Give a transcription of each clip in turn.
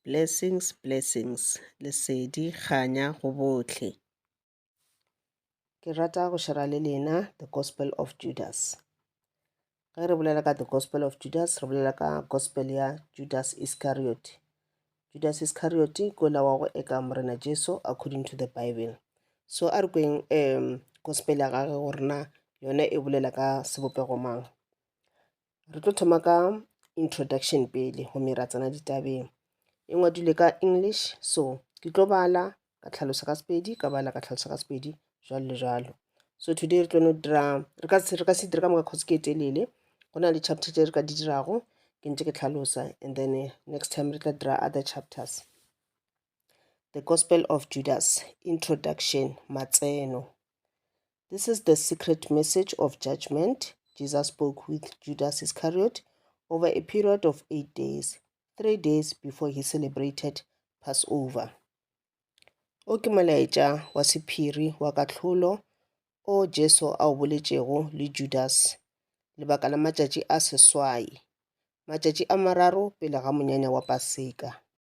Blessings, blessings, Lesedi, kganya go bohle. Ke rata go shera le lena The Gospel of Judas. Ge re bolela ka The Gospel of Judas, re bolela ka Gospel ya Judas Iscariot. Judas Iscariot ko la wa go eka Morena Jesu according to the Bible. So a re kweng um Gospel ya gage gore na yona e bolela ka sebopego mang. Re tlo thoma ka introduction pele gomme ra tsena ditabeng. E ngwadilwe ka English so ke tlo bala ka tlhalosa ka Sepedi ka bala ka tlhalosa ka Sepedi jwalo le jwalo. So today re tlo no dira re ka re ka se dire ka moka cause ke e telele. Go na le chapter tse re ka di dirago ke ntse ke tlhalosa and then eh, next time re tla dira other chapters. The Gospel of Judas, Introduction, Matseno. This is the secret message of judgment Jesus spoke with Judas Iscariot over a period of eight days, three days before he celebrated Passover. O ke molaetša wa sephiri wa kahlolo o Jesu a o boletšego le Judas lebaka la matšatši a seswai, matšatši a mararo pele ga monyanya wa Paseka.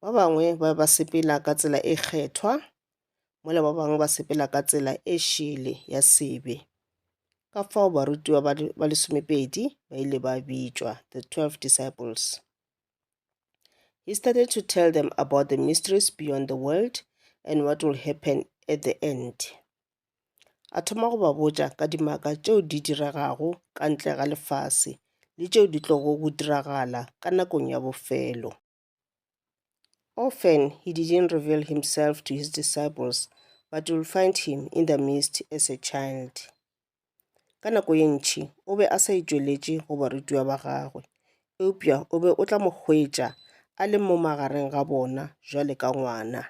Ba bangwe ba be ba sepela ka tsela e kgethwa, mola ba bangwe ba sepela ka tsela e šele ya sebe. Ka fao barutiwa ba le- ba lesomepedi ba ile ba bitšwa, the twelve disciples. He started to tell them about the mysteries beyond the world and what will happen at the end. a thoma go ba botša ka dimaka tšeo di diregago ka ntle ga lefase le tšeo di tlogo go diragala ka nakong ya bofelo. Often he didn't reveal himself to his disciples, but you'll find him in the midst as a child. Ka nako ye ntši o be a sa itšweletše go barutiwa ba gagwe, eupša o be o tla mo hwetša a le mo magareng ga bona bjale ka ngwana.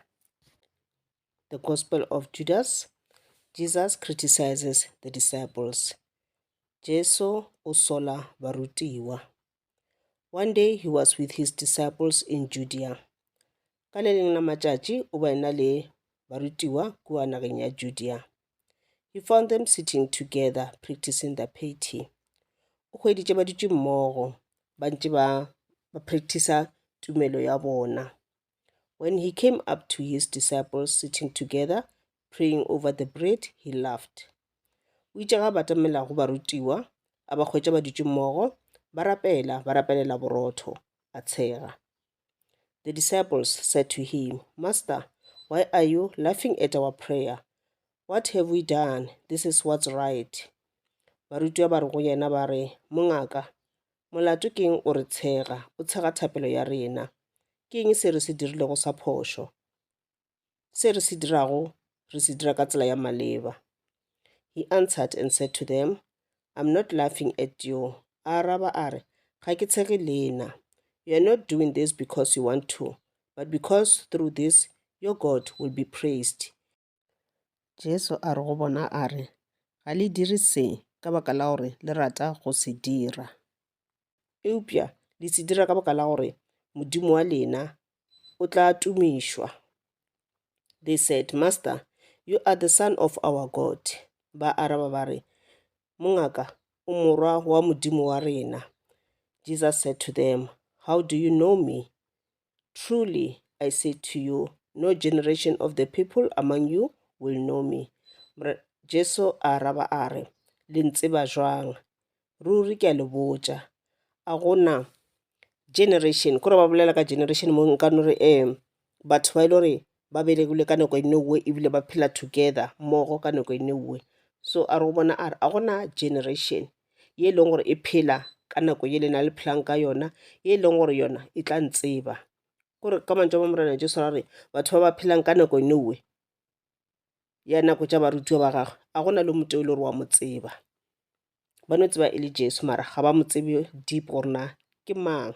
The Gospel of Judas, Jesus Criticizes the Disciples, Jesu o sola barutiwa. One day he was with his disciples in Judea. Ka le leng la matšatši o ba ena le barutiwa kua nageng ya Judea. He found them sitting together practicing the piety. O hweditše ba dutše mmogo ba ntše ba ba practicer tumelo ya bona. When he came up to his disciples sitting together, praying over the bread, he laughed. O itše ga batamela go barutiwa, a ba hwetša ba dutše mmogo, ba rapela, ba rapelela borotho, a tshega. The disciples said to him, Master, why are you laughing at our prayer? What have we done? This is what's right. Barutiwa ba re go yena ba re, Mongaka, Molato ke eng o re tshega, o tshega thapelo ya rena. Ke eng se re se dirilego sa phošo? Se re se dirago re se dira ka tsela ya maleba. He answered and said to them, I'm not laughing at you. A araba a re, ga ke tshege lena. You are not doing this because you want to, but because through this your God will be praised. Jesu a re go bona a re, Ga le dire se ka baka la gore le rata go se dira. Eupša le se dira ka baka la gore Modimo wa lena o tla tumišwa. They said, Master, you are the son of our God. Ba araba ba re, Mongaka, o morwa wa Modimo wa rena. Jesus said to them, How do you know me? Truly I say to you, no generation of the people among you will know me. Jesu a araba a re, Le ntseba jwang? Ruri ke a le botša, a gona generation, kore ba bolela ka generation mo nka no re um batho ba e le gore ba belegile ka nako e nngwe ebile ba phela together mmogo ka nako e nngwe so a re o bona a re a gona generation ye e leng gore e phela ka nako ye le na le phelang ka yona ye e leng gore yona e tla ntseba kore ka mantšu a ma morena jesu ra re batho ba ba phelang ka nako e nngwe ya nako tša barutiwa ba gagwe a gona le moto e le gore wa mo tseba ba no tseba e le Jesu mara ga ba mo tsebe deep gore na ke mang.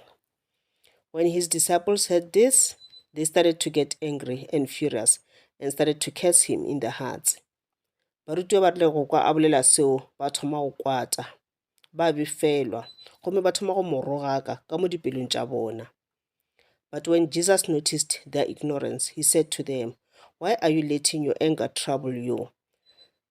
When his disciples heard this, they started to get angry and furious and started to curse him in their hearts. Barutiwa ba rile go kwa a bolela seo ba thoma go kwata, ba befelwa, gomme ba thoma go mo rogaka ka mo dipelong tša bona. But when Jesus noticed their ignorance, he said to them, Why are you letting your anger trouble you?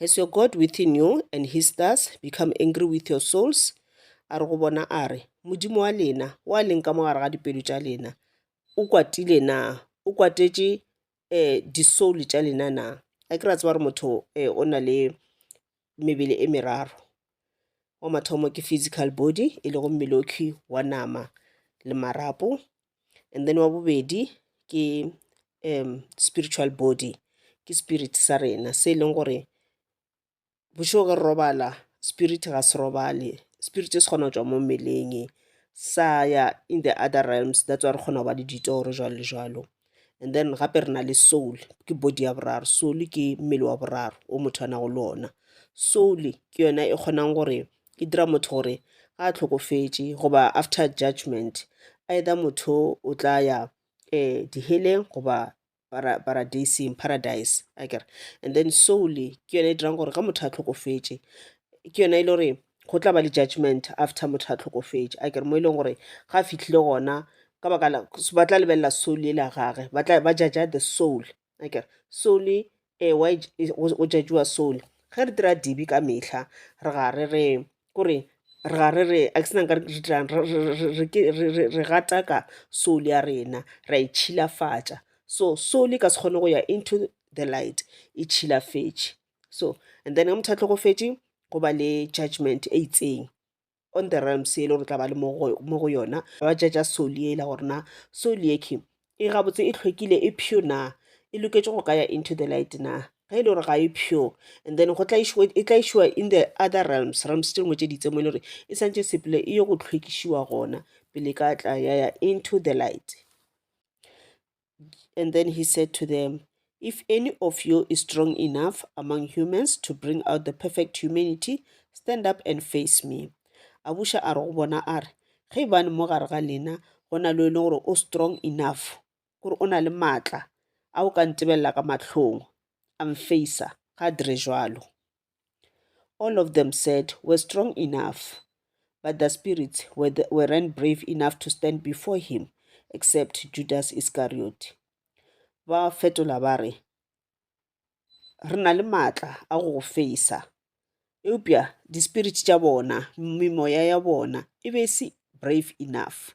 Has your God within you and his stars become angry with your souls? A re go bona a re, Modimo wa lena, wa leng ka mogare ga dipelo tša lena, o kwatile na? O kwatetše eh, disoul tša lena na? A ke ra tseba gore motho eh, o na le mebele e meraro. wa mathomo ke physical body e lego mmelokhi wa nama le marapo and then wa bobedi ke um spiritual body ke spirit sa rena se e leng gore bošego ge re robala spirit ga se robale spirit se kgona go tšwa mo mmeleng sa ya in the other realms that's why re kgona go ba le ditoro jwalo le jwalo and then gape re na le soul ke body ya boraro soul ke mmele wa boraro o motho a nago le ona soul ke yona e kgonang gore e dira motho gore ga a tlhokofetše goba after judgment either motho o tla ya um diheleng goba paradising paradise akere and then soul ke yone e dirang gore ge motho a tlhokofetše ke yone e le gore go tla ba le judgment after motho a tlhokofetše a kere mo e leng gore ga a fitlhile gona ka baka la ba tla lebelela soul e la gage ba tla ba jaja the soul a kere soul e eh, wa go jajiwa soul ge re dira dibi ka mehla re ga re re kore re ga re re a ke senang ka re dirang re gataka soul ya rena ra e tšhilafatša so soul e ka se kgone go ya into the light e tšhilafetše so and then ge motho a tlhokofetše go ba le judgment e itseng on the realms e le gore tla ba le mo go yona ba jaja soli ela gore na soli eke e gabotse e tlhwekile e pure na e loketše go ka ya into the light na ge e le gore ga e pure and then go e tlaišiwa in the other realms realms tše dingwe tše ditse mo e le gore e santše sepele e ye go tlhwekišiwa gona pele ka tla ya ya into the light And then he said to them, If any of you is strong enough among humans to bring out the perfect humanity, stand up and face me. A buša a re go bona a re, ge bane mo gare ga lena go na le e leng gore o strong enough kore o na le maatla a o ka ntebelela ka mahlong a mfeisa ga a dire jalo All of them said, We're strong enough. But the spirits weren't brave enough to stand before him, except Judas Iscariot. Ba fetola ba re, Re na le matla a go go feisa. Eupša dispiriti tša bona, memoya ya bona, e be se brave enough.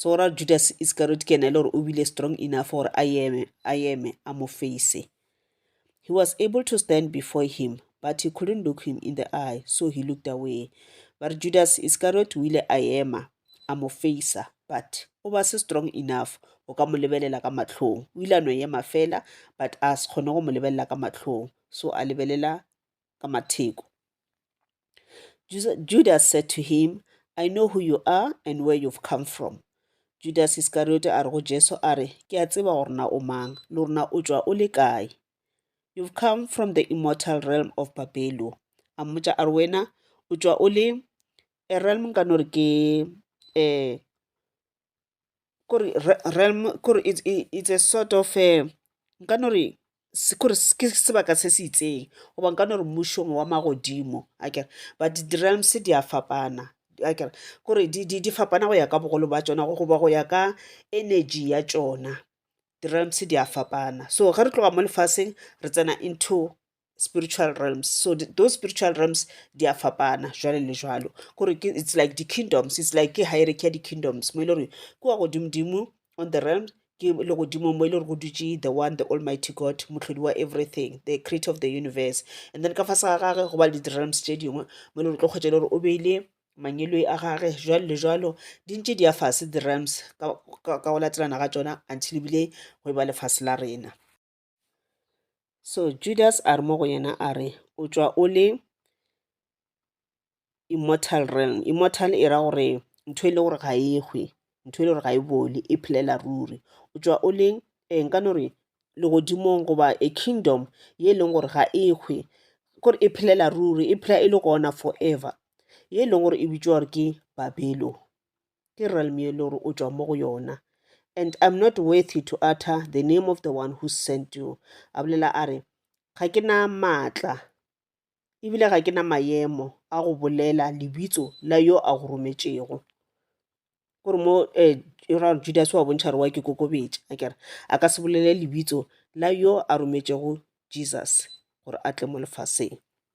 so ra judas iscariot ke ena e le gore o bile strong enough gore a eme a eme a mo face he was able to stand before him but he couldn't look him in the eye so he looked away ba re judas iscariot o ile a ema a mo facea but o ba se strong enough o ka mo lebelela ka matlhong o ile a no ema fela but a se kgone go mo lebelela ka matlhong so a lebelela ka matheko. Judas said to him, I know who you are and where you've come from. Judas Iskariote a re go Jesu a re, ke a tseba gore na o mang, le rona o tšwa o le kae. You've come from the immortal realm of Babelo. A mmotša a re wena o tšwa o le a realm ka no re ke um kore realm kore it's a sort of a nka no re kore ke sebaka se se itseng goba nka no re mmušong wa magodimo akere but di-realms di a fapana akere kore di fapana go ya ka bogolo ba tšona goba go ya ka energy ya tšona. Di-realms di a fapana so ge re tloga mo lefaseng re tsena into spiritual realms so those spiritual realms di a fapana jwale le jwalo kore ke it's like di-kingdoms it's like ke hierarchy ya di-kingdoms mo e le gore ke wa godimodimo on the realm ke le godimo mo e le gore go dutse the one the almighty god motlhodi wa everything the creator of the universe and then ka fa sa gage go ba le di-realms tse dingwe mo e le gore tlo kgwetsa e le gore o beile mangeloi a gage jwalo le jwalo di ntse di ya fase di-rams ka go latelana ga tsona until ebile go e ba lefatshe la rena so judas a re mo go yena a re o tšwa o le immortal realm immortal e ra gore ntho e le gore ga e hwe ntho e le gore ga e bole e phelela ruri o tšwa o le eh, nka no re legodimong goba a kingdom ye e leng gore ga e hwe kore e phelela ruri e phela e le gona forever ye e leng gore e bitšwa gore ke babelo ke realm ye le gore o tšwa mo go yona and i'm not worthy to utter the name of the one who sent you a bolela a re ga ke na maatla ebile ga ke na mayemo a go bolela lebitso la yo a go rometšego gore mo eh, ra judas wa bontšha re wa ke kokobetša a kere a ka se bolele lebitso la yo a rometšego jesus gore a tle mo lefaseng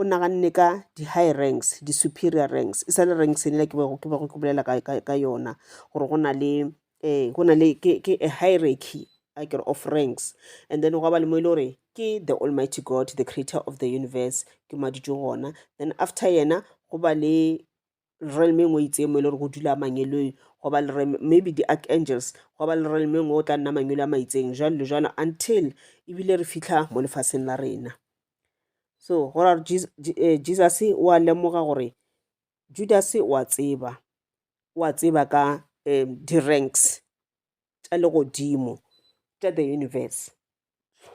o naganne ka di-high ranks di-superior ranks e sa le ranks e ke bego ke bego ke bolela ka, ka, ka yona gore go na le um go na le ke, ke a hierarchy a kere of ranks and then gwa ba le mo e le gore ke the almighty god the creator of the universe ke maditšong gona then after yena go ba le realm-eng o itseng mo e le gore go dula mangeloi go ba le maybe di-archangels go ba le realm-eng o tla nna mangelo a maitseng jalo le jalo until ebile re fitlha mo lefaseng la rena so go ra eh, jesus o a lemoga gore judas o a tseba o a tseba ka um di-ranks tša legodimo tša the universe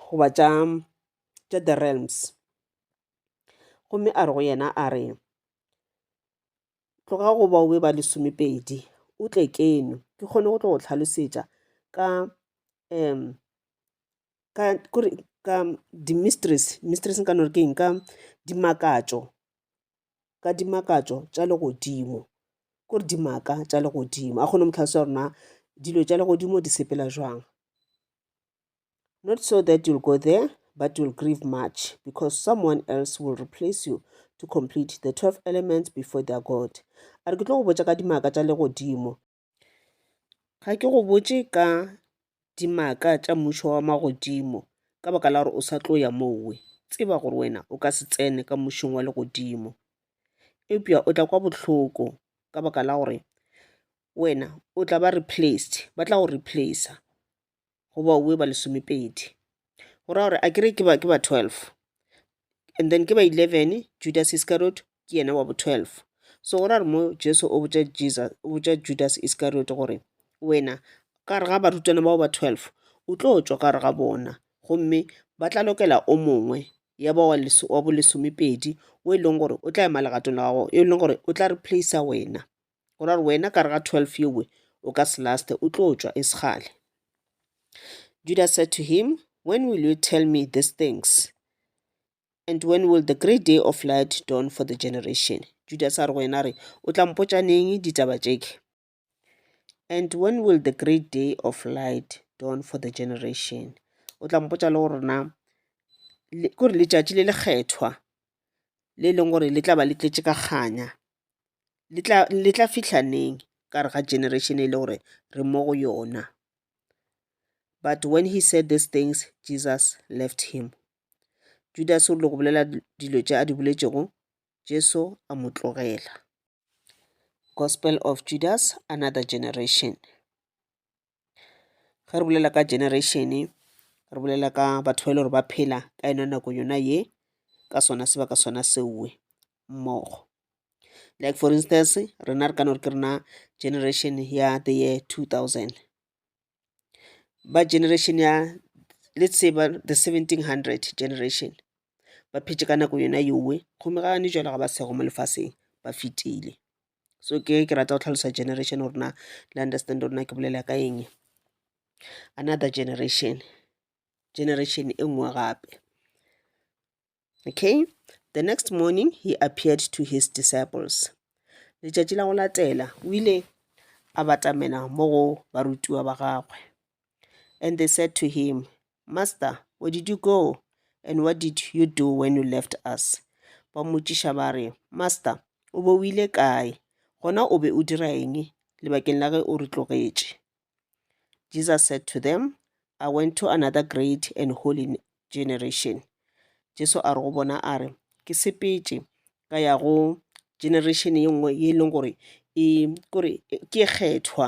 goba tša tša the realms gomme a re go yena a re tloga go baobe ba lesomepedi o tle keno ke kgone go tlo go tlhalosetša ka um ka kore ka di-mistress mistress nka no re ke eng ka dimakatšo ka dimakatšo tša legodimo kore dimaka tša legodimo a kgone go mo tlhalosetša gore na dilo tša legodimo di sepela jwang Not so that you'll go there, but you'll grieve much, because someone else will replace you to complete the 12 elements before their God. A re ke tlo go botša ka dimaka tša legodimo. Ga ke go botše ka dimaka tša mmušo wa magodimo ka baka la gore o sa tlo ya mowe. Tseba gore wena o ka se tsene ka mmušong wa legodimo. Eupša o tla kwa bohloko ka baka la gore wena o tla ba replaced, ba tla go replacer. go bauwe ba lesomepedi go raya gore a kere ke ba, ke ba 12 and then ke ba 11 judas iscariot ke yena wa bo 12 so go ra re mo jesu o botša jesus o botša judas iscariot gore wena ka re ga barutwana bao ba 12 o tlo tšwa ka re ga bona gomme ba tla lokela o mongwe ya ba wa bolesomepedi o e leng gore o tla ema legatong la gago e leng gore o tla replacer wena o ra gore wena ka re ga 12 yewe o ka se laste o tlo tšwa e segale judas said to him when will you tell me these things and when will the great day of light dawn for the generation judas a re go yena re o tla mpotša neng ditaba tšeke and when will the great day of light dawn for the generation o tla mpotša le gore na kore letšatši le lekgethwa le leng gore le tla ba le tletše ka kganya le tla fihla neng ka gare ga generation e le gore re mo go yona. But when he said these things, Jesus left him. Judas o rile go bolela dilo tše a di boletšego, Jesu a mo tlogela. Gospel of Judas, another generation. ge re bolela ka generation re bolela ka batho ba e le gore ba phela ka yona nako yona ye ka sona sebaka sona seo mmogo like for instance rena re ka no re ke rena generation ya the year two thousand ba generation ya let's say ba the seventeen hundred generation ba phetše ka nako yona yowe gomme ga ne jwale ga ba sego mo lefaseng ba fetile so ke ke rata go tlhalosa generation gore na le understand gore na ke bolela ka eng another generation generation e nngwe gape okay the next morning he appeared to his disciples letšatši la go latela o ile a batamela mo go barutiwa ba gagwe and they said to him Master, where did you go and what did you do when you left us? Ba mmotšiša ba re, Master, o be o ile kae, gona o be o dira eng lebakeng la ge o re tlogetše? Jesus said to them, I went to another great and holy generation. Jesu a re go bona a re, Ke sepetše ka ya go generation ye nngwe ye e leng gore e kore ke kgethwa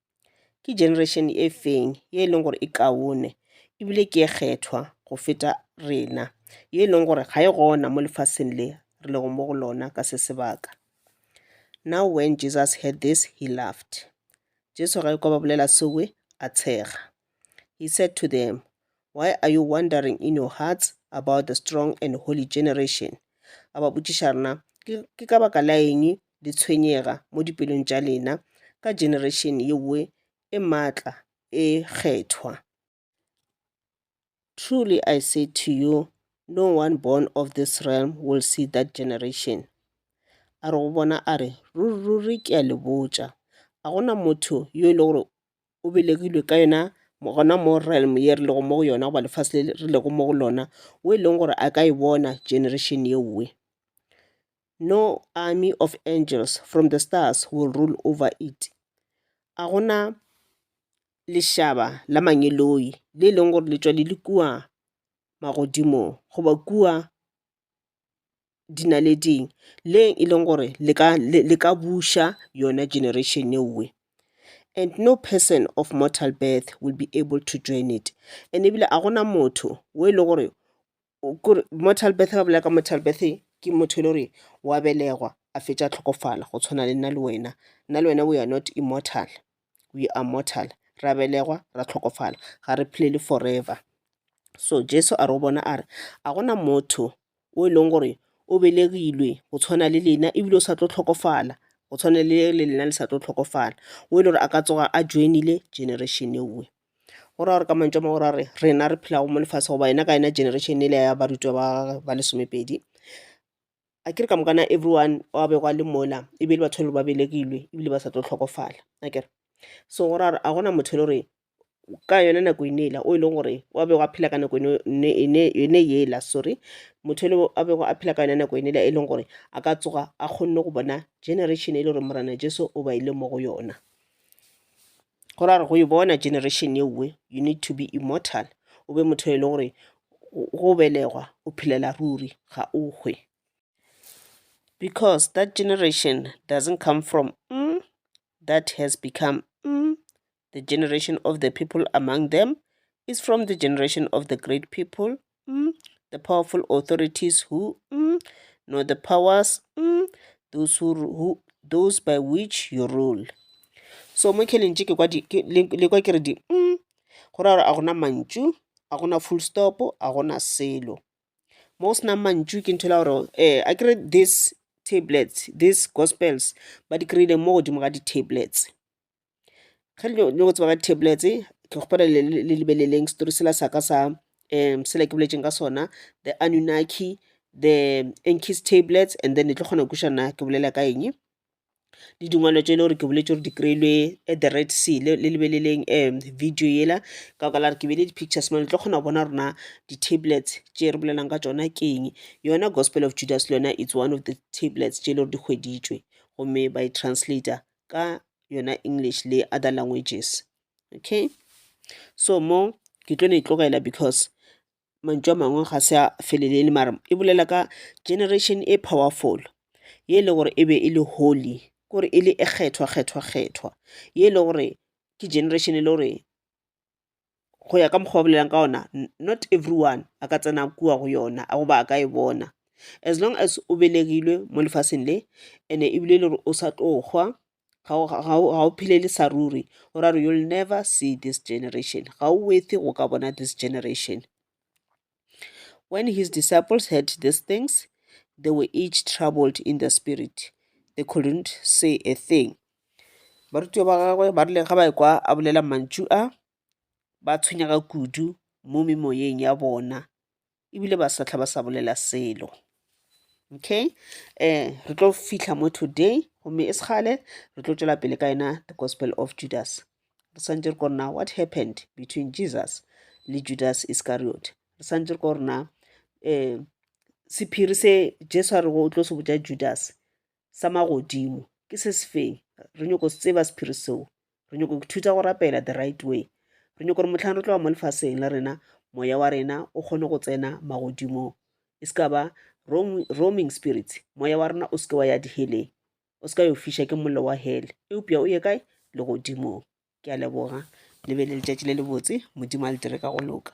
Ke generation e feng ye e leng gore e kaone ebile ke e kgethwa go feta rena, ye e leng gore ga e gona mo lefaseng le re lego mo go lona ka se sebaka? Now when Jesus heard this, he laughed. Jesu ge kwa ba bolela se we, a tshega. He said to them, Why are you wondering in your hearts about the strong and holy generation? A ba botšiša rena, ke ka baka la eng le tshwenyega mo dipelong tša lena ka generation ye nngwe e maatla e kgethwa. Truly I say to you, no one born of this realm will see that generation. A re go bona a re, Ruri, ruri, ke a le botša, ga go na motho yo e le gore o belegilwe ka yona gona mo realm ye re lego mo go yona goba lefase le re lego mo go lona, wo e leng gore a ka e bona generation ye nngwe. No army of angels from the stars will rule over it. A go na lešaba la mangeloi le e leng gore le tšwa le le kua magodimong goba kua dinaleding le e leng gore le ka buša yona generation ewe. And no person of mortal birth will be able to join it. And ebile a go na motho o e leng gore kore mortal birth ba bolela ka mortal birth ke motho e le gore wa belegwa a fetša tlhokofala go tshwana le nna le wena nna le wena we are not immortal we are mortal ra belegwa ra tlhokofala ga re phelele forever so jesu a re go bona a re a gona motho o e leng gore o belegilwe go tshwana le lena ebile o sa tlo tlhokofala go tshwana le le lena le sa tlo tlhokofala o e le gore a ka tsoga a joinile generation ewe Go ra gore ka mantswe a mang go ra gore rena re phelago mo lefase goba yona ka yona generation yela ya barutwa ba ba lesomepedi, akere ka moka na everyone o a bego a le mola e be e le batho ba e le gore ba belegilwe ebile ba sa tlo tlhokofala akere. So go ra gore ga gona motho e le gore ka yona nako e ne yela o e leng gore o a bego a phela ka nako yone yela sorry, motho yo a bego a phela ka yona nako yone yela e leng gore a ka tsoga a kgonne go bona generation e le gore Morena Jesu o baile mo go yona. Go ra gore go e bona generation ye nngwe, you need to be immortal, o be motho e le gore go belegwa o phelela ruri ga o hwe. Because that generation doesn't come from mm that has become mm the generation of the people among them is from the generation of the great people mm, the powerful authorities who mm, know the powers mm, those, who, who, those by which you rule so mo kheleng tše le kwa ke re di mm, go ra gore a gona mantšu a gona full stop a gona selo mo go senang mantšu ke ntho la gore um eh, a kere this tablets these gospels ba di kry-ile mo godimo ga di-tablets ge le nyaka go tseba ka tablets ke kgopela le lebeleleng story sela sa ka sa um sela ke boletseng ka sona the anunaki, the ancis tablets and then le tlo kgona go kweša na ke bolela ka eng. Le dingwalo tše e le gore ke boletše gore di kry-ilwe at the right sea le lebeleleng um video yela ka baka la gore ke beile di pictures mo le tlo kgona go bona gore na di tablets tše re bolelang ka tšona ke eng. Yona gospel of Judas le yona it's one of the tablets tše e le gore di hweditšwe gomme ba e translator ka yona English le other languages. Okay, so mo ke tlo no e tlogela because mantšu a mangwe ga se a felelele mara e bolela ka generation e powerful ye e lego gore e be e le holy kore e le e kgethwa kgethwa kgethwa ye e lego gore ke generation e le gore go ya ka mokgwa o bolelang ka ona not everyone a ka tsena kua go yona goba a ka e bona as long as o belegilwe mo lefaseng le and-e ebile e le gore o sa tlo hwa ga o phelele sa ruri go ra gore you'll never see this generation ga o worth-e go ka bona this generation. When his disciples heard these things, they were each troubled in the spirit. They couldn't say a thing. barutwa ba gagwe ba rile ga ba ekwa a bolela mantšu a ba tshwenyega kudu mo memoyeng ya bona ebile ba sa tlha ba sa bolela selo okay eh re tlo fihla mo today gomme e sekgale re tlo tšwela pele ka yena the gospel of judas re swantse re ko rena what happened between jesus le judas iscariot re swantse re ko rena um sephiri se jesu a rego o tlo se botja judas sa magodimo ke se se feng re nyoko se tseba sephiri seo re nyoko go thuta go rapela the right way re nyoko gore motlhang re tloga mo lefaseng la rena moya wa rena o kgone go tsena magodimong e se ka ba roaming spirits moya wa rena o seke wa ya diheleng o se ka yo fiša ke mollo wa hele eupša o ye kae legodimong ke a leboga le be le letšatši le lebotse modimo a le dire ka go loka